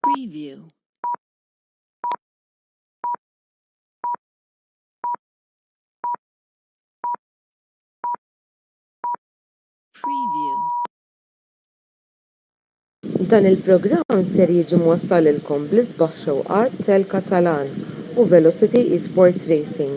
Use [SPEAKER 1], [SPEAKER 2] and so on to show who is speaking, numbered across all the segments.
[SPEAKER 1] Preview. Preview.
[SPEAKER 2] Dan il-programm ser jiġi mwassal lilkom bl-isbaħ xewqat tal-Katalan u Velocity Esports Racing.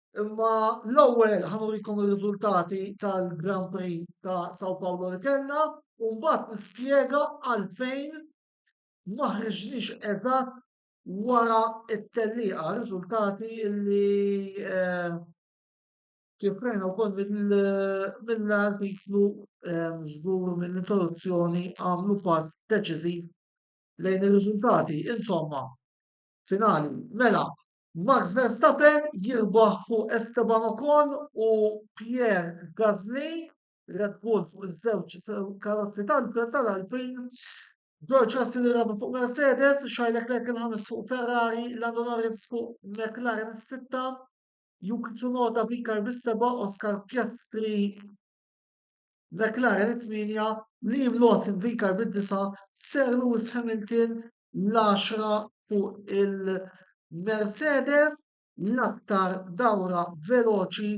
[SPEAKER 3] Imma l-ewwel ħanurikom ir-riżultati tal-Grand Prix ta' Sao Paulo li kellna u mbagħad nispjega għalfejn ma ħriġniex eżatt wara t-tellieqa, riżultati li eh, ċifrejna wkoll mill-artiklu eh, żgur mill-introduzzjoni għamlu pass deċiżiv lejn ir-riżultati. Insomma, finali, mela, Max Verstappen jirbaħ fuq Esteban Ocon u Pierre Gasly, Red Bull fuq iż-żewġ karozzi tal-Alpin, George Russell irrabi fuq Mercedes, Charles Leclerc il-ħames fuq Ferrari, Lando Norris fuq McLaren is-sitta, Yuki Tsunoda bikar bis-seba, Oscar Piastri McLaren it-tminja, Liam Lawson bikar bid-disa, Sir Lewis Hamilton l-għaxra fuq il-Mercedes, l-aktar dawra veloċi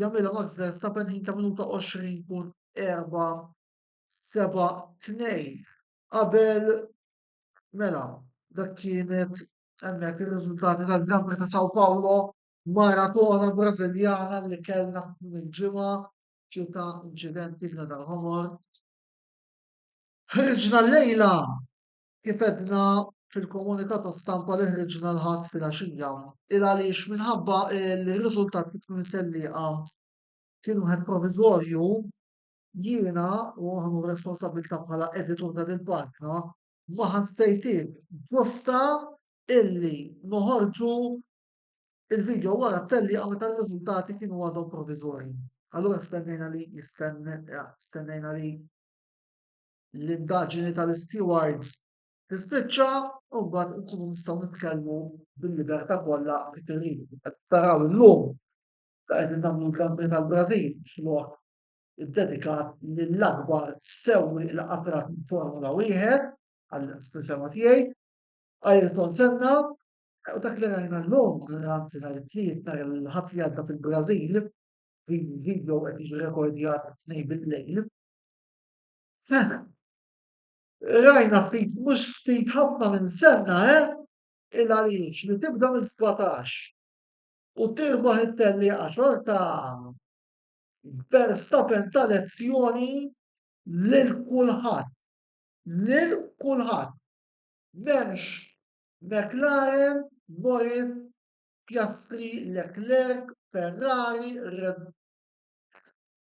[SPEAKER 3] jagħmilha Max Verstappen ħin ta' minuta 20.472 qabel mela dak kienet hemmhekk ir-riżultati tal-Gran Prix ta' Sao Paulo maratona Brażiljana li kellna minn ġimgħa ġie ta' inċidenti f'Nadal Ħomor. Ħriġna llejla Kif għedna fil-komunikatu stampa li ħriġna l-Ħadd filgħaxija, il għaliex minħabba li r-riżultat li tkun it-tellieqa kien wieħed proviżorju, jiena, u nieħu r-responsabbiltà bħala editur ta' dil-paġna, ma ħassejtiex ġusta illi noħorġu l-vidjo wara t-tellieqa meta r-riżultati kienu għadhom proviżorji. Allura stennejna li stennejna li l-indaġini tal-istiwards tispiċċa u mbagħad inkunu nistgħu nitkellmu bil-libertà kollha li trid. Qed taraw illum ta' qegħdin nagħmlu l-Grand Prix tal-Brażil flok iddedikat lill-akbar sewwi il qatrat minn Formula wieħed għall-espressjoni tiegħi. Ayrton Senna u dak li rajna llum, anzi nhar it-tliet nhar il-ħadd li għadda fil-Brażil, video qed jiġi rekordjat tnejn bil-lejl. Fehmem. Rajna ftit mhux ftit ħafna minn senna, eh? Il-għaliex li tibda mis-sbatax u tirbaħ it-tellieqa xorta Verstappen ta lezzjoni lil kulħadd. Lil kulħadd. M'hemmx McLaren, Norris, Piastri, Leclerc, Ferrari, Red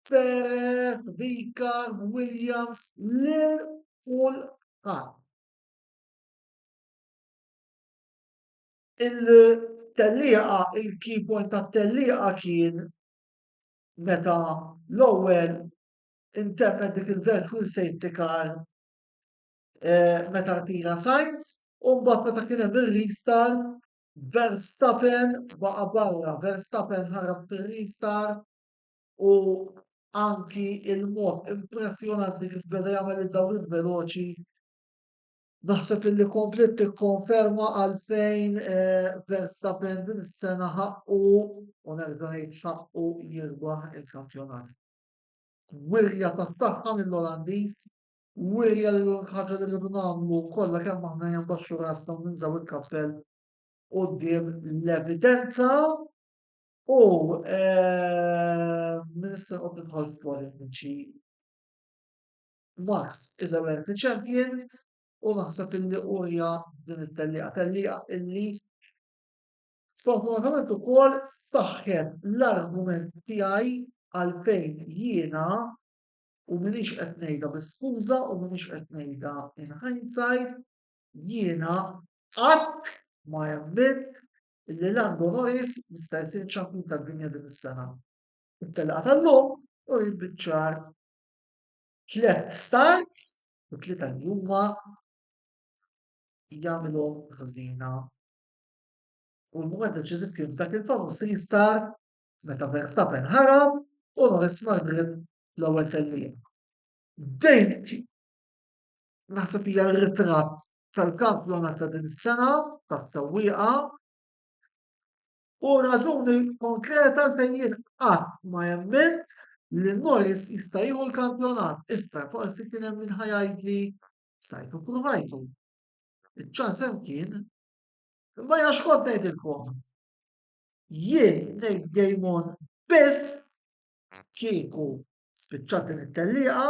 [SPEAKER 3] Perez, Vicar, Williams, lil kulħadd. Il-tellieqa, il-key point tat-tellieqa kien meta l-ewwel interpret dik il-virtual safety car eh, meta tira Sainz u mbagħad meta kien hemm ir-restart Verstappen baqa' barra, Verstappen ħarab fir-restart u anki il-mod impressjonanti kif beda jagħmel id-dawriet veloċi naħseb illi kompliet tikkonferma għalfejn eh, Verstappen din is-sena ħaqqu u nerġa' ngħid ħaqqu jirbaħ il-kampjonat. Wirja tas-saħħa mill-Olandiż, wirja li l-ħaġa li rridu nagħmlu kollha kemm aħna jembaxxu rasna u ninżaw il-kappell quddiem l-evidenza U nista' noqgħod nidħol f'politiċi. Max is a wealthy champion u naħseb illi urja din it-tellieqa, tellieqa illi sfortunatament ukoll saħħet l-argument tiegħi għalfejn jiena u minix qed ngħidha bi skuża u minix qed ngħidha in hindsight jiena qatt ma emmitt Il-Lejlan Bonolis jista' jsir ċ-Champion tad-Dinja din is-sena. It-telqa tal-lum uriet biċ-ċar tliet starts u t-tlieta li huma jagħmilhom ħżiena. U l-mument deċiżiv kien f'dak il-famuż restart meta Verstappen ħarab u Norris mar grip l-ewwel tellieqa. Din naħseb hija r-ritratt tal-kampjonat ta' din is-sena tas-sewwieqa u raġuni konkreta għalfejn jien qatt ma emmilt li Moyes jista' jieħu l-kampjonat. Issa forsi kien hemm min ħajgħidli stajtu ppruvajtu. Iċ-ċans hemm kien. Imma jiena xkont ngħidilkom. Jien ngħid game on biss kieku spiċċat din it-tellieqa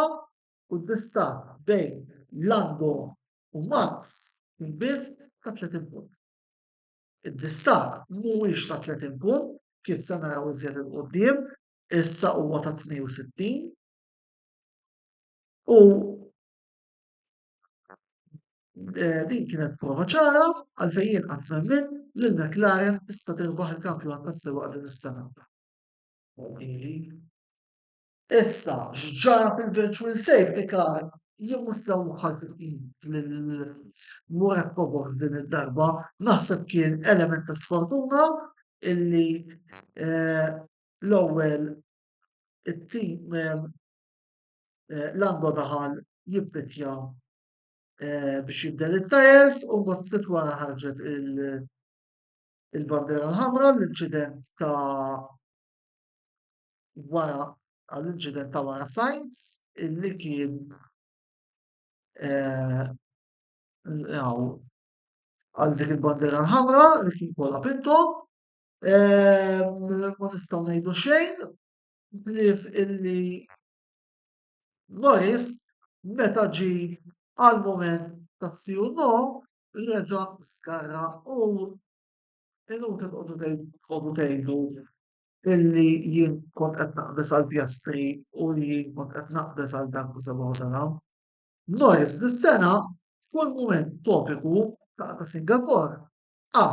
[SPEAKER 3] u d-distakk bejn Lango u Marx kien biss ta' 30 punt. Id-distakk mhuwiex ta' 30 punt kif se naraw iżjed 'il quddiem, issa huwa ta' 62 u din kienet prova ċara għalfejn jien qatt m'emmilt li l-McLaren tista' tirbaħ il-kampjonat tas-sewwieqa din is-sena. Issa, x'ġara fil-virtual safety car jien mhux sew ħassejt lil Murad Kobos din id-darba, naħseb kien element ta' sfortuna illi l-ewwel it-tim Lando daħal jippittja biex jibdel it-tyres u mbagħad ftit wara ħarġet il-bandiera l-ħamra l-inċident ta' wara għall-inċident ta' wara Sainz illi kien eh, għal dik il-bandera l-ħamra li kien kollha pinto eh, ma nistgħu ngħidu xejn blif illi Norris meta ġi għal moment ta' siju no reġa' skarra u Illum se tqogħdu tqogħdu tgħidu illi jien kont qed naqbeż għall-pjastri u li jien kont qed naqbeż għal dak u sebgħu tara. Norris dis-sena f'kull mument topiku ta' ta' Singapore qa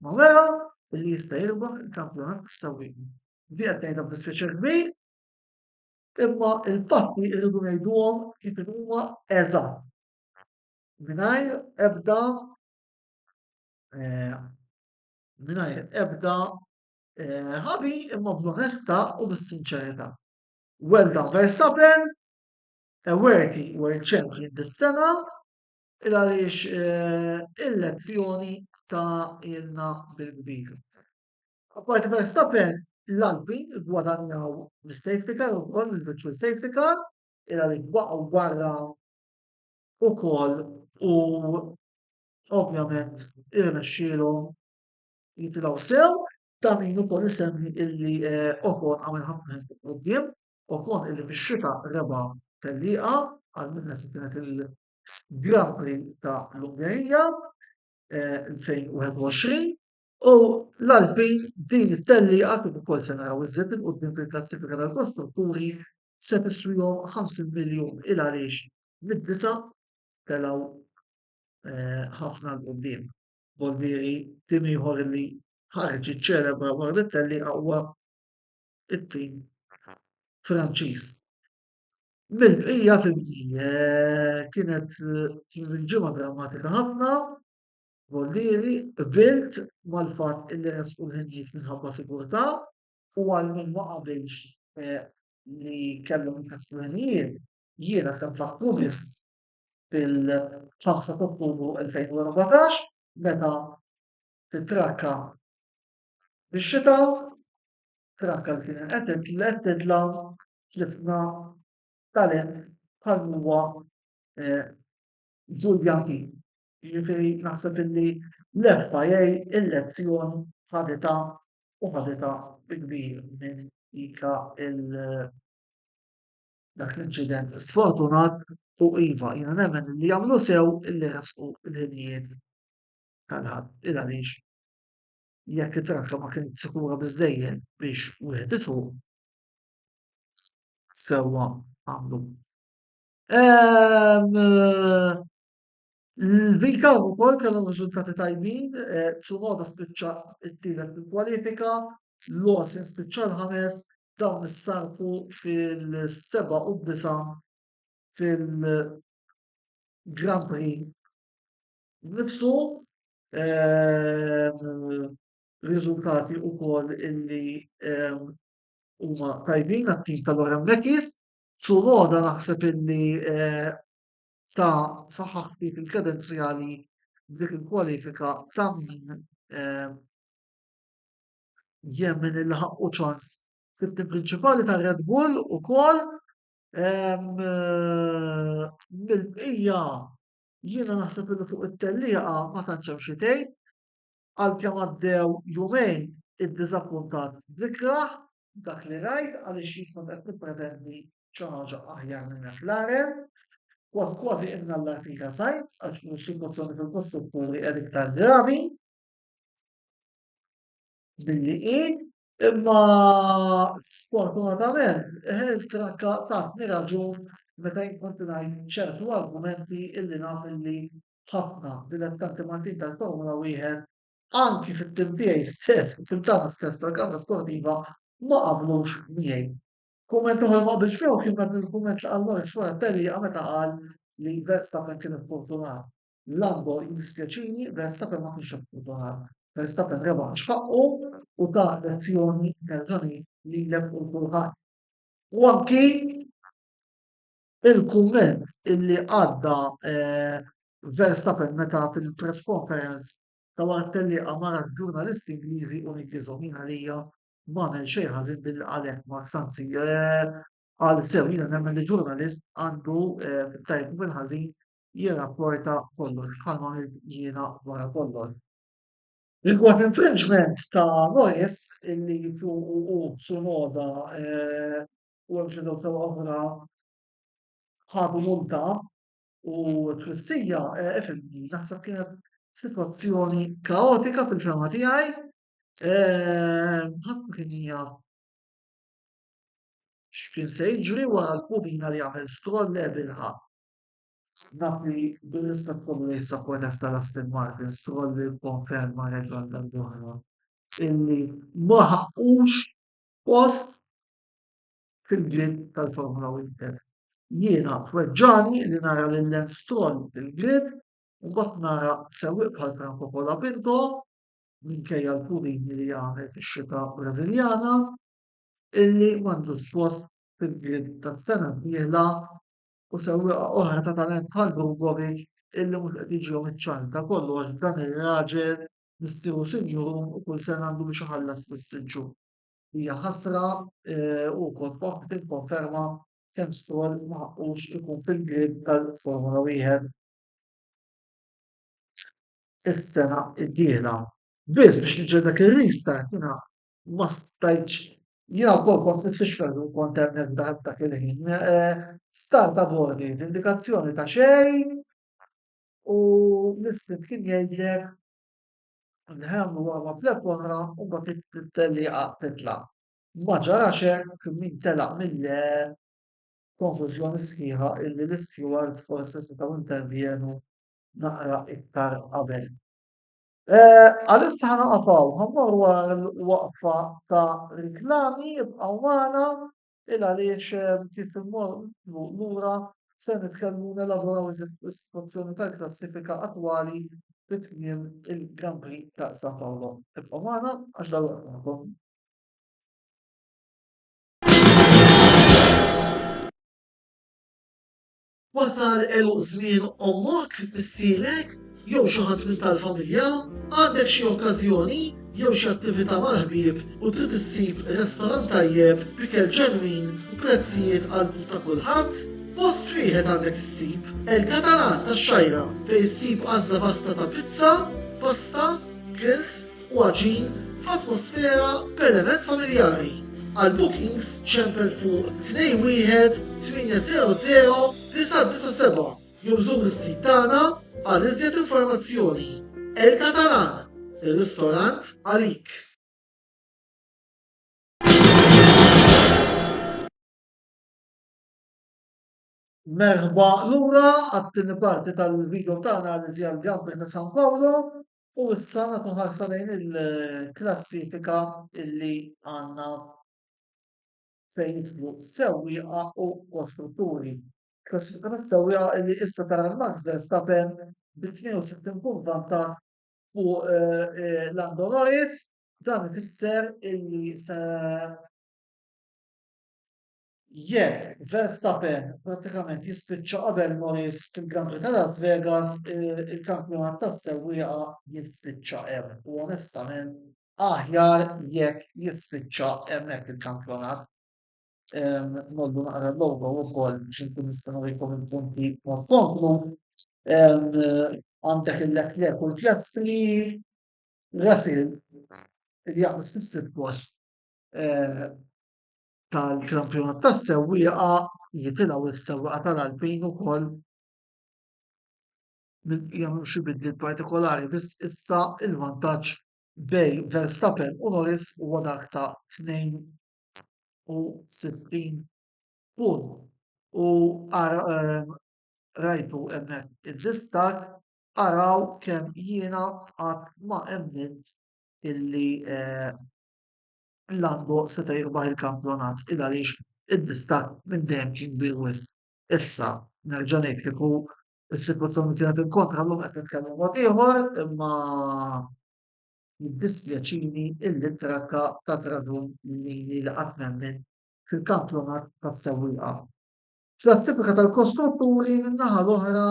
[SPEAKER 3] ma wera illi jista' jirbaħ il-kampjonat tas-sewwieqin. Di qed ngħidha b'dispjaċir kbir imma l-fatti rridu ngħiduhom kif huma eżatt mingħajr ebda mingħajr ebda ħabi imma bl-onestà u bis-sinċerità. Well done Verstappen, a worthy world champion dis-sena, il għaliex il-lezzjoni ta' ilna bil-kbir. Apparti Verstappen, l-Alpin gwadanjaw mis-safety car ukoll il-virtual safety car, il għaliex baqgħu barra ukoll u ovvjament irnexxielhom jitilgħu sew ta' min ukoll isemmi illi eh, Okon għamel ħafna fuq quddiem, Okon illi fix-xita reba tellieqa għal minna se kienet il-Grand Prix ta' l-Ungerija 2021 eh, u l-Alpin din it-tellieqa kif ukoll se naraw iżjed il-quddiem fil-klassifika tal-kostrutturi se tiswihom 50 miljun il għaliex mid-disa telgħu eh, ħafna l qudiem Bollieri tim ieħor li ħarġ iċ-ċelebra Barrettelli aqwa it-tim Franċiż. Mill-bqija fimni eh, kienet kien il-ġimgħa drammatika ħafna Bollieri bilt mal-fatt illi resqu l-ħinjiet minħabba sigurtà u għal min ma qabilx eh, li kellhom il-kastranijiet, jiena sem fakkun fil-5 ta' Ottubru 2014 meta titrakka fix-xita, trakka li kienet qed titla' tlifna talent bħal huwa Julian King. Jiġifieri naħseb illi l-FIA il-lezzjoni ħaditha u ħaditha bi kbir minn dik il- dak l-inċident sfortunat u iva jiena nemmen li jagħmlu sew illi resqu l-ħinijiet tal-ħadd il għaliex jekk it-trafika ma kienet sikura biżżejjed biex wieħed isuq sewwa għamlu. Ehm, L-Vika wkoll kellhom riżultati tajbin, eh, Tsunoda spiċċa t-tielet fil-kwalifika, Lawson spiċċa l-ħames, dawn issarfu fil-seba' u disa' fil-Grand Prix nifsu ehm, riżultati wkoll illi ehm, huma tajbin għat-tim tal-Oran Mekis. Suroda naħseb illi eh, ta' saħħaħ ftit il-kredenzjali f'dik il-kwalifika ta' min jemmen li ħaqqu ċans fit-tim prinċipali ta' Red Bull ukoll mill-bqija jiena naħseb li fuq it-tellieqa ma tantx hemm xi tgħid għalkemm għaddew jumejn iddiżappuntat bl-ikrah dak li rajt għaliex jien kont qed nippretendi xi ħaġa aħjar minn hekk. L-għarem, kważi kważi innallar fija żgħid għax din is-sitwazzjoni fil-kostrutturi qiegħed iktar gravi milli hi, imma sfortunatament il-trakka tatni raġun meta jien kont ngħid ċertu argumenti illi naf illi ħafna dilettanti Maltin tal-Formula Wieħed anki fit-tim tiegħi stess, fit-tim tagħna stess tal-Kamra Sportiva ma qablux miegħi. Kumment ieħor li ma qbiltx miegħu kien dak il-kumment li qal Lawrence wara t-tellieqa meta qal li Verstappen kien iffortunat. Lando jiddispjaċini, Verstappen ma kienx iffortunat. Verstappen rebaħ għax ħaqqu u ta lezzjoni nerġa' ngħid lilek u lil kulħadd. U anki Il-kumment illi għadda Verstappen meta fil-press conference ta' wara t-tellieqa mara l-ġurnalist Ingliżi u niggiżhom jien għalija m'għamel xejn ħażin billi qal hekk Max anzi qal sew jiena nemmen li ġurnalist għandu fit-tajjeb u fil-ħażin jirrapporta kollox bħalma għamilt jiena wara kollox. Rigward l-infringement ta' Norris illi fuqu hu Tsunoda u hemm xi żewġ sewwieqa oħra ħadu multa u t-twissija ifhimni naħseb kienet sitwazzjoni kaotika fil-fehma tiegħi ħadd ma kien jaf x'kien se jiġri wara l-purina li għamel skoll Evilha. Naf li bir-rispett kollu lejn s-sapportesta Lastin Martin, Stroll ikkonferma reġa' għal darb'oħra illi ma ħaqqux post fil-Grill tal-Formula Winter. Jiena tweġġagħni li nara lil Lance Stroll fil-Grill u mbagħad nara sewwieq bħal Franco Colapinto, minkejja l-purini li għamel fix-xita Brażiljana, illi m'għandux post fil-Grill tas-sena d-dieħla u sewwieqa oħra ta' talent bħal Drugovic illi mhux qed jiġihom iċ-ċans. Ta' kollox dan ir-raġel missieru sinjurun u kull sena għandu biex iħallas fl-istriġġun. Hija ħasra u purtroppa tikkonferma kemm Stroll ma ħaqqux ikun fil-grid tal-Formula Wieħed is-sena d-dieħla. Biss biex niġġel dak ir-restart jiena ma stajtx jiena wkoll kont nifsixkel u kont hemmhekk dak dak il-ħin. Start aborted, indikazzjoni ta' xejn u l-istinjal kien jgħidlek Nħemm u għama f'leb oħra u ma tittelliqa titla'. Ma ġarax hekk min telaq mill-għeb. Konfużjoni sħiħa illi l-istewards forsi setgħu intervjenu naqra iktar qabel. Għalissa ħa noqgħof hawn, ħa mmorru għal waqfa ta' riklami, ibqgħu magħna. Il għaliex kif immorru lura ser nitkellmu u nelaboraw iżjed fuq is-sitwazzjoni tal-klassifika attwali fi tmiem il-Grand Prix ta' San Paolo. Ibqgħu magħna għax dalwaqt magħkom. Wasal għeluq żmien ommok, missierek, jew xi ħadd minn tal-familja? Għandek xi okkażjoni jew xi attività mal-ħbieb u trid issib restorant tajjeb b'ikel ġenwin u prezzijiet għall-but ta' kulħadd? Post wieħed għandek issib, El Catalan tax-Xgħajra, fejn issib għażla vasta ta' pizza, pasta, grills, u għaġin f'atmosfera b'element familjari. Għal bookings ċempel fuq 21800-997 jew żur is-sit tagħna għal iżjed informazzjoni. El Catalan, ir-ristorant għalik! Merħba lura għat-tieni parti tal-video tagħna li ġie għall-Gambit ta' San Paolo. U issa nagħtu ħarsa lejn il-klassifika li għandna fejn jidħlu sewwieqa u kostrutturi. Klassifika tas-sewwieqa li issa tara lil Max Verstappen bi 62 punt vantaġġ fuq Lando Norris. Dan ifisser li se Jekk Verstappen prattikament jispiċċa qabel Norris fil-Gran Prix ta' Las Vegas, il-kampjonat tas-sewwieqa jispiċċa hemm u onestament aħjar jekk jispiċċa hemmhekk il-kampjonat. Nollu naqra l-logo wkoll biex inkun nista' nurikom il-punti mod komplu. Għandek il-Leclerc u l-Piastri, Russell li jaqbes fis-sitt post tal-kampjonat tas-sewwieqa jitilgħu s-sewwieqa tal-Alpin ukoll jagħmlu xi bidliet partikolari biss issa l-vantaġġ bejn Verstappen u Norris huwa dak ta' 62 punt u ehm, rajtu hemmhekk id-distak araw kemm jiena qatt ma emmint illi eh, L-Adbo seta' jirbaħ il-kampjonat il għaliex id-distakk minn dejjem kien kbir wisq. Issa, nerġa' ngħid kieku s-sitwazzjoni kienet il-kontra llum qed nitkellmu mod ieħor imma jiddispjaċini illi t-trakka tat raġun lili li qatt nemmen fil-kampjonat tas-sewwieqa. Klassifika tal-kostrutturi min-naħa l-oħra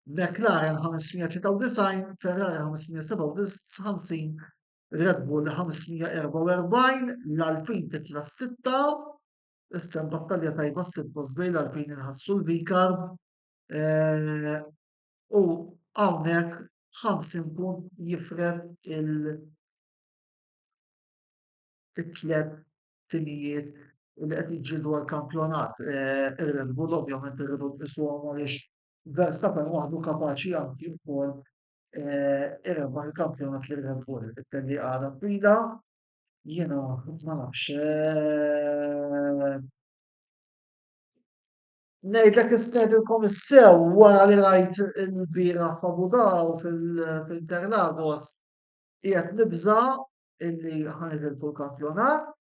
[SPEAKER 3] McLaren 593, Ferrari 557, Red Bull 544, l-Alpine titla' s-sitta, issa hemm battalja tajba s-sitt post bejn l-Alpine inħassu l-Vikar eh, u hawnhekk 50 punt jifred il- it-tlet timijiet li qed jiġġieldu għal kampjonat Red Bull ovvjament irridu nqisuhom għaliex Verstappen waħdu kapaċi anki wkoll irebbaħ il-kampjonat lil Red Bull. It-telli għadha twila, jiena ma nafx. Ngħidlek istedilkom issew wara li rajt il-bira f'Abu Dhaw fil-Interlagos qiegħed nibża' illi ħa nitilfu l-kampjonat.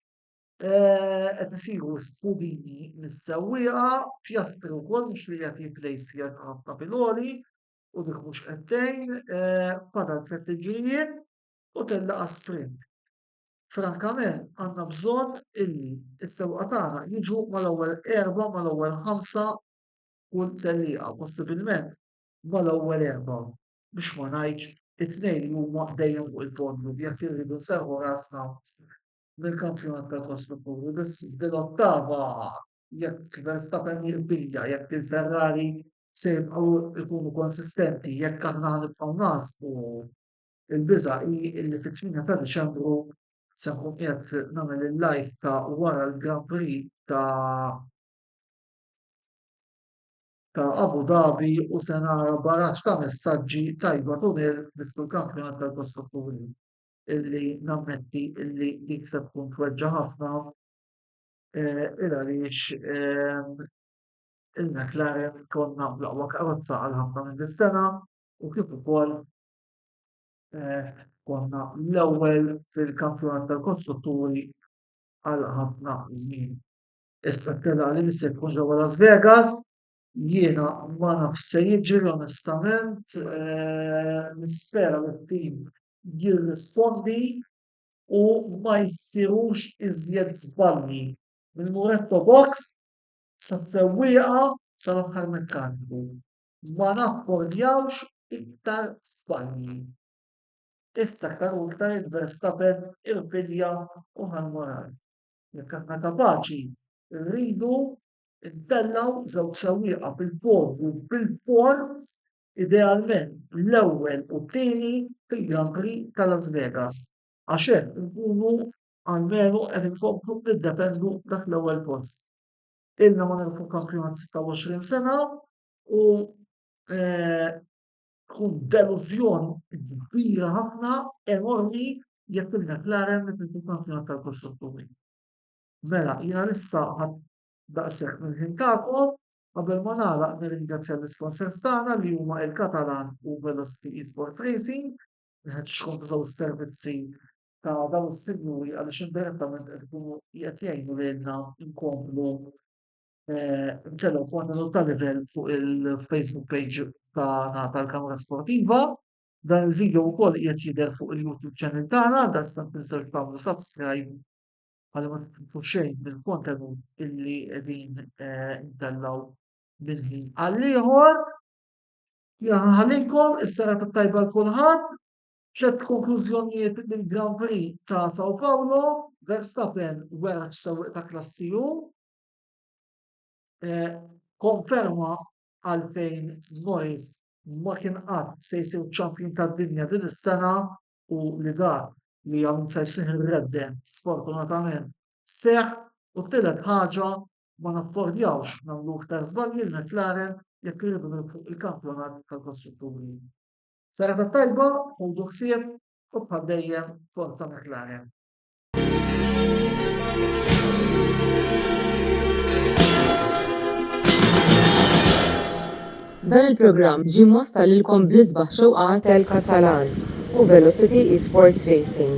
[SPEAKER 3] Eh, qed isiru sfudini mis-sewwieqa, pjastri wkoll mhux li qed jiplejsjer ħafna filgħoli u dik mhux qed tgħin, eh, fadal tliet tiġrijiet u tellaqa sprint. Frankament għandna bżonn illi s-sewqa tagħna jiġu mal-ewwel erba' mal-ewwel ħamsa kull tellieqa possibilment mal-ewwel erba'. biex ma ngħidx, it-tnejn li huma dejjem fuq il-podium jekk irridu nserrħu rasna mill-kampjonat tal-kostrutturi biss din l-ottava jekk Verstappen jirpilja, jekk il-Ferrari se jibqgħu jkunu konsistenti, jekk aħna ħa nibqgħu naħsbu, il-biża' hi li fit-tmienja ta' Diċembru se nkun qiegħed nagħmel il-live ta' wara l-Grand Prix ta' ta' Abu Dhabi u se nara baraġġ ta' messaġġi tajba tul il-Bid tal-Kampjonat tal-Kostrutturi illi nammetti illi dik se tkun tweġġa' ħafna il għaliex il-McLaren konna bl-aqwa karozza għal ħafna minn dis-sena u kif ukoll konna l-ewwel fil-Kampjonat tal-Kostrutturi għal ħafna żmien. Issa telaq li missi jkun ġewwa Las Vegas. Jiena ma nafx se jiġri onestament, eh, nispera li t-tim jirrispondi u ma jsirux iżjed żbalji mill-Muretto Box sas-sewwieqa sal-aħħar mekkaniku. Ma naffordjawx iktar żbalji. Issa aktar u iktar id-Verstappen irpilja u ħa l-moral. Jekk aħna kapaċi, irridu ntellgħu żewġ sewwieqa fil-podju fil-port, idealment l-ewwel u t-tieni fil-Grand Prix ta' Las Vegas, għax hekk inkunu almenu qed inkomplu niddefendu dak l-ewwel post. Ilna ma nirbħu kampjonat 26 sena u tkun delużjon kbira ħafna, enormi, jekk il-McLaren ma tridx tkun kampjuna tal-Kostrutturi. Mela, jiena issa ħadt daqshekk mill-ħin tagħkom, qabel ma nagħlaq nirringrazzja l-isponsors tagħna li huma il-Catalan u Velocity Esports Racing, nħeġġeġ xkom tużaw is-servizzi ta' dawn is-sinjuri għaliex indirettament qed ikunu qed jgħinu lilna nkomplu ċedew kontenut ta' livell fuq il-Facebook page tagħna tal-Kamra Sportiva. Dan il-video wkoll qiegħed jidher fuq il-YouTube channel tagħna, dastant tiżżewġ tagħmlu subscribe għal ma titfu xejn mill-kontenut illi qegħdin eh, ntellaw minn ħin għal ieħor. Jaħalikom is-sara tajba l kulħadd. Tlet konklużjonijiet mill-Grand Prix ta' Sao Paulo, Verstappen wera sewwieq ta' klassi Eh, konferma għalfejn Nois ma kien qatt se jsir ċampjun tad-dinja din is-sena u li dak li hawn se jsir ir-reddem sfortunatament seħħ u t-tielet ħaġa ma naffordjawx nagħmlu iktar żbalji li McLaren jekk irridu nilħqu il-kampjonat tal-kostrutturi. Sena tat-tajba, ħudu ħsieb u bħal dejjem forza McLaren.
[SPEAKER 2] Dan il-programm ġie mwassal lilkom bl-isbaħ xewqat tal-Katalan u Velocity Esports Racing.